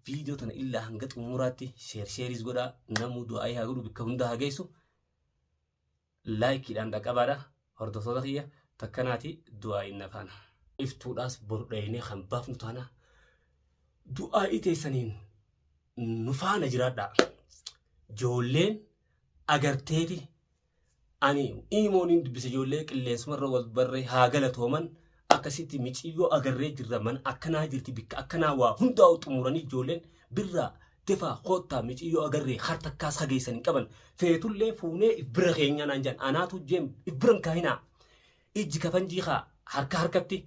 Viidiyoo tana illaa hanga xumuraatti sheer sheeris godhaa namuu du'aayii haa godhu bakka hundaa haa geessu. Laayikiidhaan dhaqqabaadha hordoftoota kiyya takkanaati du'aayiin na faana. Iftuudhaas boru dhaynee kan baafnu taana du'aayii teessaniin nu faana jiraadhaa. Joolleen agarteeti Ani iimoo niin dubbisa ijoollee qilleensumarra wal barree haa galatooman akkasitti miciyyoo agarree jirra mana akkanaa jirti bikka akkanaa waa hundaa'u xumuranii ijoolleen birraa defaa koottaa miciyyoo agarree har takkaas hageessan hin qaban feetullee fuunee if bira keenyaa naan jedhan anaatu jeem if biran kaahinaa ijji kafanjii kaa harka harkatti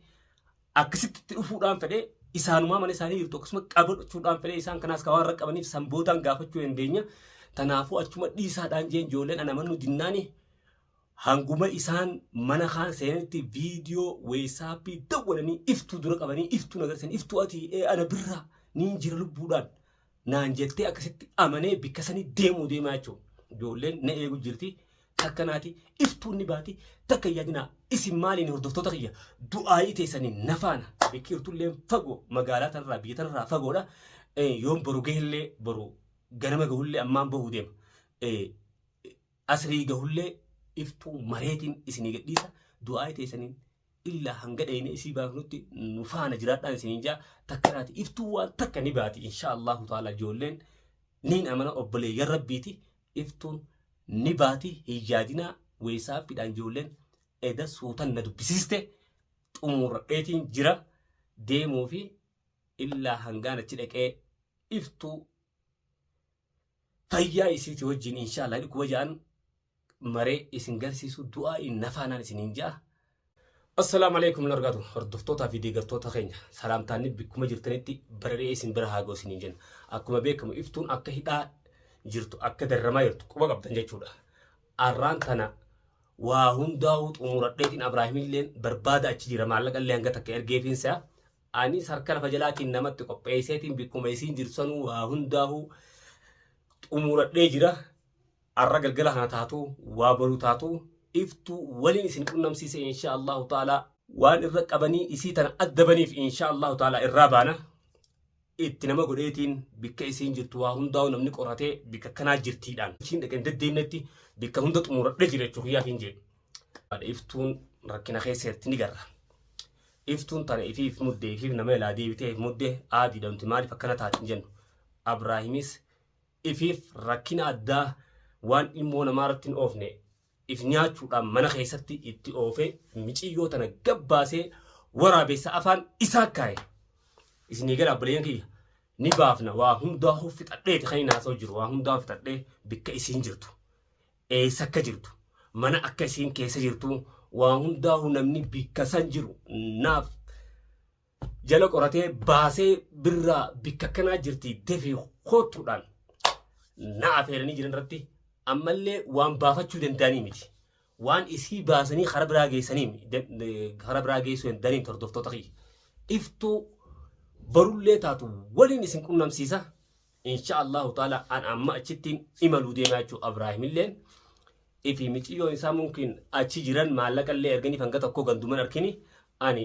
akkasitti itti dhufuudhaan fedhee isaanumaa mana isaanii jirtu akkasuma qabadhuchuudhaan fedhee isaan kanaas kan waan raqqabaniif sanbootaan gaafachuu dandeenya. Tanaafuu achuma dhiisaadhaan jeen ijoolleen ana mannu dinnaani hanguma isaan mana kaan seenanitti viidiyoo weesaappii dawwalanii iftuu dura qabanii iftuu nagarsan iftuu ati ee ana birraa niin jira lubbuudhaan naan jettee akkasitti amanee bikka sanii deemuu deemaa jechuun ijoolleen na eegu jirti takka naati iftuun ni baati takka yaadinaa isin maaliin hordoftoota kiyya du'aayii teessanii na faana biqiltullee fagoo magaalaa tanarraa biyya tanarraa fagoodha yoon boru gahellee boru ganama gahullee ammaan bahuu deema Asrii gahullee iftuu mareetiin isinii gadhiisa du'aa'ii teessaniin illaa hanga dhayne isii baafnutti nu faana jiraadhaan isiniin jaa takka naati iftuu waan takka ni baati inshaa Allahu ta'ala ijoolleen niin amana obboleeyyan rabbiiti iftuun ni baati hin yaadinaa weessaappiidhaan ijoolleen eda suutan na dubbisiiste xumuurradheetiin jira deemuu fi illaa hangaan achi dhaqee iftuu fayyaa isiiti wajjin inshaallah jedhu kuma ja'an maree isin garsiisu du'aa'iin nafaanaan isiniin ja'a. Assalaamu alaikum warahmatullahi wabarakatuh. Hordoftootaa fi deeggartoota keenya salaamtaanni bakkuma jirtanitti bara dhe'ee isin bira haa ga'u isiniin jenna. Akkuma beekamu iftuun akka hidhaa jirtu akka darramaa jirtu quba qabdan jechuudha. Arraan tana waa hundaa'uu xumuradheetiin Abraahimilleen barbaada achi jira maallaqa illee hanga takka ergeefiin isaa Anis harka lafa jalaatiin namatti qopheesseetiin bikkuma isiin jirtu sanuu waa hundaahuu xumuradhee jira. Arra galgala kana taatu waa boru taatu iftu waliin isin qunnamsiise insha Allahu ta'ala. Waan irra qabanii isii tana adda baniif insha Allahu ta'ala irraa baana. Itti nama godheetiin bikka isiin jirtu waa hundaa'u namni qoratee bikka kanaa jirtiidhaan. Ishiin dhaqeen deddeemnetti bikka hunda xumuradhee jira jechuun kiyyaaf hin jee. Iftuun rakkina keessa jirti ni garra. Iftuun tana ifii if mudde ifiif nama ilaa deebitee if mudde aa diidamti maaliif akkana taati hin jennu. Abraahimis ifiif rakkina addaa waan ilmoo namaa irratti hin oofne if nyaachuudhaan mana keessatti itti oofee miciyyoo tana gad baasee waraabessa afaan isaa kaaye. Isinii gala abboleeyyan kiyya ni baafna waa hundaahuu fixadheeti kan hin haasa'u jiru waa hundaahuu fixadhee bikka isiin jirtu. Eessa akka jirtu, mana akka isiin keessa jirtu waa hundaahu namni bikka san jiru naaf jala qoratee baasee birraa bikka akkanaa jirti defi koottuudhaan na afeeranii jiran irratti ammallee waan baafachuu danda'anii miti. Waan isii baasanii karaa biraa geessanii karaa biraa geessuu hin danda'anii hordoftoota kiyya. Iftuu barullee taatu waliin isin qunnamsiisa. Insha Allahu ta'ala an amma achittiin imaluu deemaa jechuudha Abraahimilleen. Ifi miciyyoon isaa mumkin achi jiran maallaqa illee erganiif hanga tokko ganduman arkini ani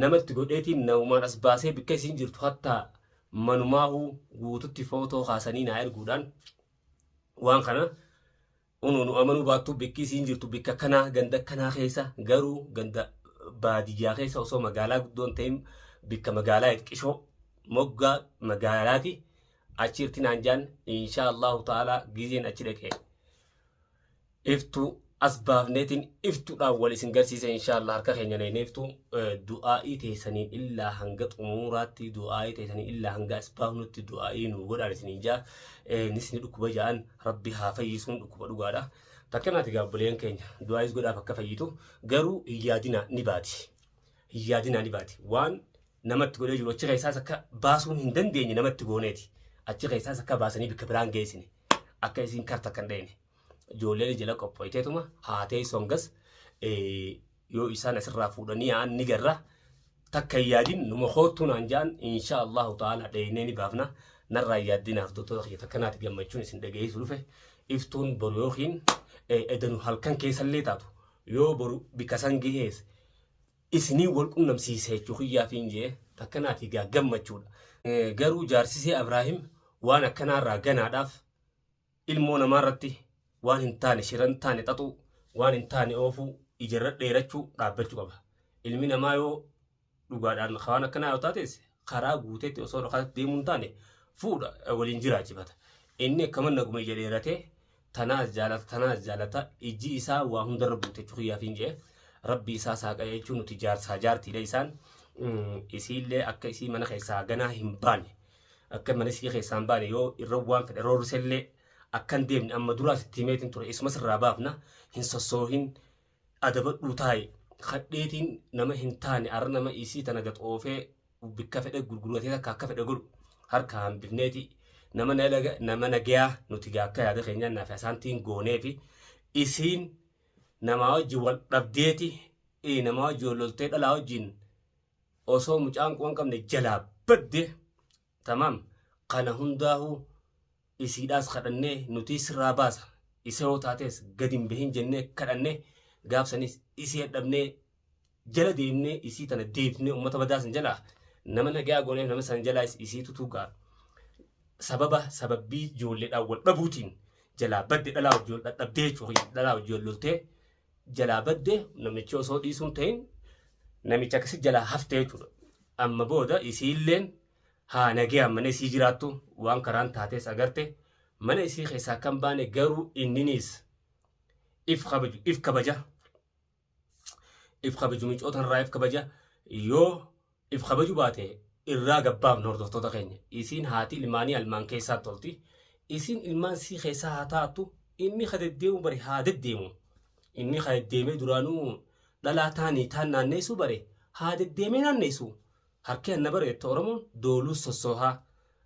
namatti godheetiin namumaan as baasee bikka isiin jirtu hatta manumaahuu guututti footoo kaasanii naa erguudhaan waan kana Unu nu amanuu baattuu bikki isiin jirtu bikka kanaa ganda kanaa keessa garuu ganda baadiyyaa keessa osoo magaalaa guddoon ta'in bikka magaalaa itqishoo moggaa magaalaati achi irti naan jaan inshaa Allahu ta'ala gizeen achi dhaqe iftuu as baafneetiin iftuudhaan wal isin garsiisa inshaa Allah harka keenya neenee iftuu du'aa'ii teessaniin illaa hanga xumuuraatti du'aa'ii teessaniin illaa hanga as baafnutti du'aa'ii nu godhaan isin hin jaa nisni dhukkuba ja'an Rabbi haa fayyisuun dhukkuba dhugaadha. Fakkeenyaati egaa obboleen keenya du'aayis godhaaf akka fayyitu garuu hin yaadinaa ni baati. Hin yaadinaa ni baati. Waan namatti godhee jiru achi keessaas akka baasuun hin dandeenye namatti gooneeti. Achi keessaas akka baasanii bakka biraan geessine. Akka isiin karta kan dheene. Ijoolleen jala qophooyteetuma haatee songas yoo isaan asirraa fuudhanii yaa'an ni garra takka hin yaadin numa koottuu naan ja'an insha allahu ta'ala dheeynee ni baafna narraa hin yaaddina hordoftoota kiyya takka naati gammachuun isin dhageessu dhufe iftuun boru yookiin eh, edanu halkan keessallee taatu yoo boru bika san gehees isinii wal qunnamsiise jechuu kiyyaafiin jee takka naati gaa gammachuudha Eh, garuu jaarsisee abraahim waan akkanaarraa ganaadhaaf ilmoo namaa irratti waan hin taane shira hin taane xaxuu waan hin taane oofuu ijarra dheerachuu dhaabbachuu qaba ilmi namaa yoo dhugaadhaan waan akkanaa yoo taates karaa guuteetti osoo dhokaatti deemuu hin taane fuudha eh, waliin jiraachifata inni akkama naguma ija dheeratee tanaas jaalata tanaas jaalata ijji isaa waa hundarra buute jechuu kiyyaaf hin jee rabbi isaa saaqa jechuun nuti jaarsaa jaartiidha isaan Mm, isiillee akka isii mana keessaa ganaa hin baane Akka mana isii keessaa hin baane yoo irra waan fedhe roorrisellee akka hin deemne amma duraa sitti himeetiin ture isuma sirraa baafna hin sossoohin adabadhuu taa'i kadheetiin nama hin taane arra nama isii tana gad oofee bikka fedhe gurguratee takka akka fedhe godhu harka hambifneeti nama nalaga nama nagayaa nuti gaa akka yaada keenyaan naaf asaantiin goonee fi isiin namaa wajjin wal dhabdeeti eh, namaa wajjin wal loltee dhalaa wajjin osoo mucaan quban qabne jalaa badde tamaam kana hundaahuu isiidhaas kadhannee nutii sirraa baasa isa yoo taatees gadi hin bahin jennee kadhanne gaafsanis isii hadhabnee jala deemnee isii tana deebifnee ummata badaa san jalaa nama nagayaa gooneef nama san jalaa isii tutuugaa sababa sababbii ijoolleedhaan wal dhabuutiin jalaa badde dhalaa wajjin wal dhadhabdee jechuudha dhalaa wajjin wal loltee jalaa badde namichi osoo dhiisuun ta'in namicha akkasi jalaa hafte jechuudha. Amma booda isiilleen haa nagayaan mana isii jiraattu waan karaan taatees agarte mana isii keessaa akka hin baane garuu inniniis if kabaju if kabaja if kabaju micoota irraa if kabaja yoo if kabaju baate irraa gabbaafna hordoftoota keenya isiin haati ilmaanii almaan keessaatti tolti isiin ilmaan sii keessaa haa taattu inni ka deddeemu bari haa deddeemu inni ka deddeemee duraanuu dhalaa taanii taan naanneessuu bare haa deddeemee naanneessu harki anna bare jette oromoon dooluu sossoohaa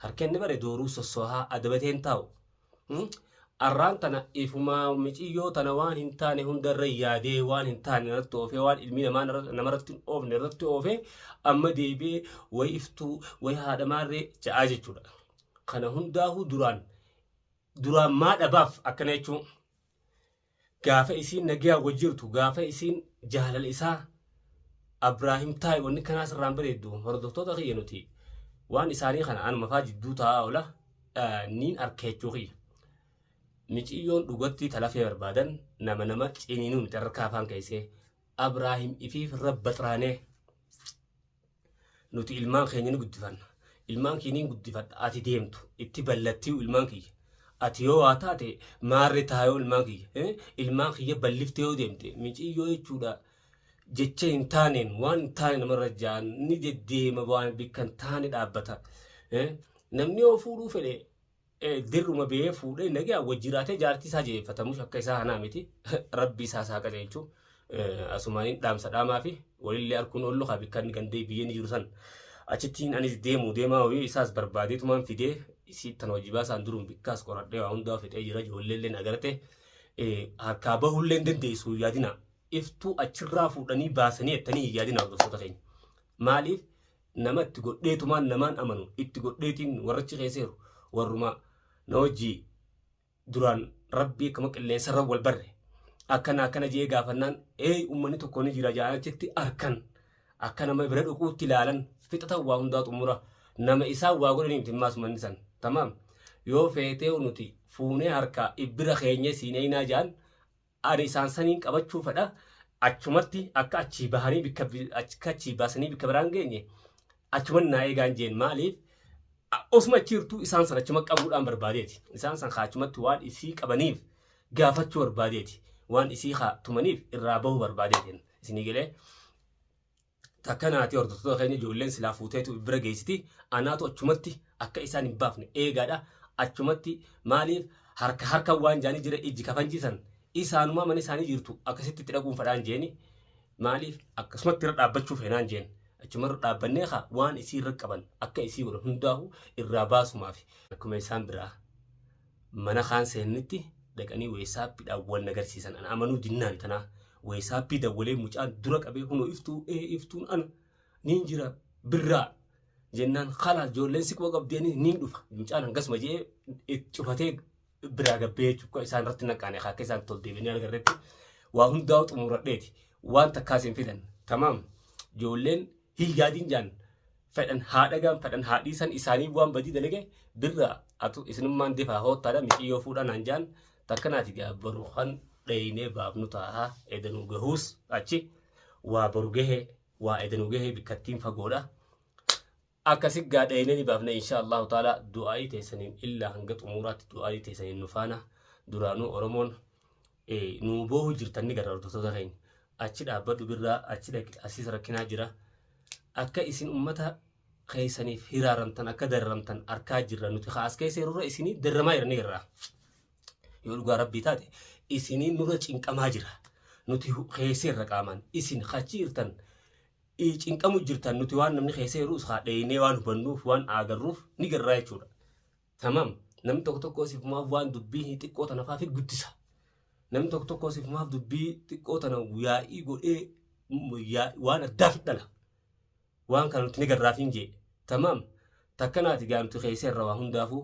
harki anni bare dooruu sossoohaa adabatee hin taa'u Arraan tana ifumaa miciyyoo tana waan hin taane hundarra yaadee waan hin taane irratti oofee waan ilmi namaa narra- namarratti hin oofne irratti oofee amma deebi'ee way iftuu way haadha maarree ja'aa jechuudha. Kana hundaahuu duraan duraan maa dhabaaf akkana jechuun Gaafa isiin nagayaan wal jirtu, gaafa isiin jaalala isaa Abraahim taa'i wanni kanaa sirraa hin bareeddu. Hordoftoota kiyya nuti waan isaanii kana anuma faa jidduu taa'aa oola eh, niin arka jechuu kiyya. Miciyyoon dhugatti talafee barbaadan nama nama ciniinuu miti harka afaan keessee. Abraahim fi Rabbaxraanee. Nuti ilmaan keenya ni guddifanna. Ilmaan kee ni guddifadha. Ati deemtu. Itti ballattiyu ilmaan kiyya. Ati yoo waa taate maarri taayoo ilmaan kiyya. Eh, Ilmaan kiyya balliftee yoo deemte miciyyoo jechuudha. Jecha hin taaneen waan hin taane namarra jaan ni deddeema waan bikka hin taane dhaabbata. Eh, Namni yoo fuudhuu fedhe dirruma biyee fuudhee nagaa wajji jiraatee jaartii isaa jeeffatamuus akka isaa hanaa miti rabbii isaa isaa qajeelchu asumaaniin dhaamsa dhaamaa fi walillee arkuun oollu haa bikkanni gandee biyyee ni jiru san achittiin anis deemu deemaa hoyuu isaas barbaadee tumaan fidee isiittan hojii baasaan duruun bikkaas qoradhee waa hundaa fixee jira ijoolleelleen agartee harkaa bahullee hin dandeessu hin yaadina iftuu achirraa fuudhanii baasanii ettanii hin yaadina hordoftoota keenya maaliif nama itti godheetumaan namaan amanu itti godheetiin warrachi keesseeru warruma na wajjii duraan rabbii akkama qilleensarra wal barre akkana akkana jee gaafannaan ee ummanni tokko ni jira jaanachitti arkan akka nama bira dhuquutti ilaalan fixatan waa hundaa xumura nama isaan waa godhanii miti maas manni san tamaam yoo feetee nuti fuunee harkaa ibbira keenya siin eeynaa jaan Ari isaan saniin qabachuu fedha. Achumatti akka achii bahanii bikka bi- akka achii baasanii bikka biraan geenye achuman naa eegaan jeen maaliif a- osuma achi jirtuu isaan san achuma qabuudhaan barbaadeeti. Isaan san kaa achumatti waan isii qabaniif gaafachuu barbaadeeti. Waan isii kaa tumaniif irraa bahuu barbaadeeti. Isinii galee Takka naati hordoftoota keenya ijoolleen silaa fuuteetu bira geessiti. Anaatu achumatti akka isaan hin baafne eegaadha. Achumatti maaliif harka harka waan jaanii jira ijji kafanjiisan isaanumaa mana isaanii jirtu akkasitti itti dhaquun fadhaan jeeni maaliif akkasumatti irra dhaabbachuu feenaan jeen achuma irra dhaabbannee kaa waan isii irra qaban akka isii godhan hundaahu irraa baasumaaf akkuma isaan biraa mana kaan seennitti dhaqanii weessaappiidhaan wal nagarsiisan ana amanuu dinnaan tanaa weessaappii dawwalee mucaan dura qabee kunoo iftuu ee iftuun ana niin jira birraa jennaan kalaas ijoolleen siqoo qabdeenis niin dhufa mucaan hangasuma jedhee cufatee biraa gabbee jechuudha isaan irratti naqaane akka isaan tol deebiinee argarretti waa hundaa xumuradheeti waan takkaas hin fidan tamaam ijoolleen hin yaadin jaan fedhan haa dhagaan fedhan haa dhiisan isaanii waan badii dalage birraa atu isinummaan defaa hoottaadha miciyyoo fuudhaa naan jaan takkanaati gaa baru kan dheeynee baafnu taa'a edanuu gahuus achi waa baru gahee waa edanuu gahee bikkattiin fagoodha akkasi gaa dheeynee ni baafna insha allahu taala du'aa'ii teessaniin illaa hanga xumuraatti du'aa'ii teessaniin nu faana duraanuu oromoon ee nuu boohu jirtan ni gara hordoftoota keenya achi dhaabbadhu birraa achi dhaqi asiis rakkinaa jira akka isin ummata keessaniif hiraaramtan akka dararamtan arkaa jirra nuti kaas keessa yeroo isinii daramaa jira ni garraa yoo dhugaa rabbii taate isinii nurra cinqamaa jira nuti keessa irra qaamaan isin kachi jirtan ii cinqamu jirtan nuti waan namni keessa yeroo isaa dheeynee waan hubannuuf waan aagarruuf ni garraa jechuudha Tamam. Namni tokko tokko sifumaaf waan dubbii xiqqoo tana fa'aa guddisa. Namni tokko tokko sifumaaf dubbii xiqqoo tana yaa'ii godhee waan addaa fidhala. Waan kana nuti ni garraafiin jee. Tamam. Takkanaati gaa nuti keesseerra waa hundaafuu